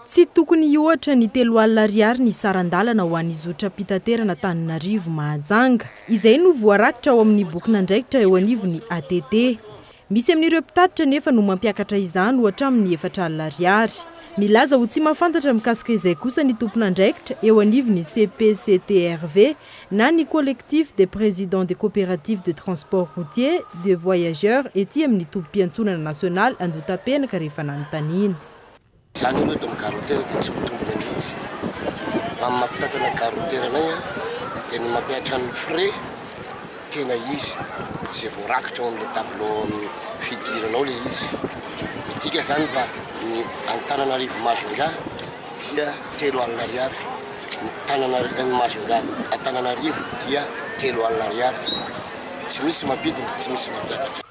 Tsy tokony hihoatra ny telo alina ariary ny saran-dalana ho an'ny zotram-pitaterana Antananarivo, Mahajanga. Izay no voarakitra ao amin'ny bokin'andraikitra eo anivon'ny ATT. Misy amin'ireo mpitatitra anefa no mampiakatra izany ho hatramin'ny efatra alina ariary. Milaza ho tsy mahafantatra mikasika izay kosa ny tompon'andraikitra eo anivon'ny CPCTRV na ny Collectif des Présidents des Coopératives de Transport Routier de Voyageurs ety amin'ny tobim-piantsonana nasionaly Andohatapenaka rehefa nanontaniana. Zany aloha eto am garotera dia tsy mitombina mihintsy fa ny mampitantana garotera anay a dia ny mampihatra ny frais tena izy izay voarakitra ao amle tableau am fidirana ao le izy midika zany fa ny any tananarivo Majunga dia telo alina ariary ny tanana ny Majunga Antananarivo dia telo alina ariary tsy misy mampidina tsy misy mampiakatra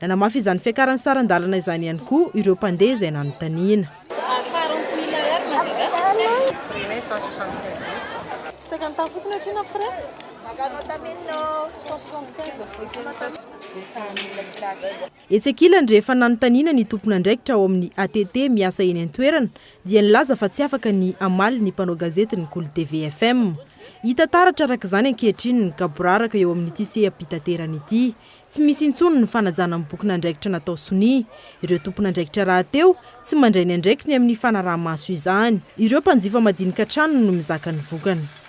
Nanamafy izany fiakaran'ny saran-dalana izany ihany koa ireo mpandeha izay nanontaniana. Etsy ankilany, rehefa nanontaniana ny tompon'andraikitra ao amin'ny ATT miasa eny an-toerana dia nilaza fa tsy afaka ny hamaly ny mpanao gazety ny Kolo TV FM. Hita taratra araka izany ankehitriny ny gaboraraka eo amin'ity seha-pitaterana ity. Tsy misy intsony ny fanajana ny bokin'andraikitra natao sonia. Ireo tompon'andraikitra rahateo tsy mandray ny andraikiny amin'ny fanaraha-maso izany. Ireo mpanjifa madinika hatrany no mizaka ny vokany.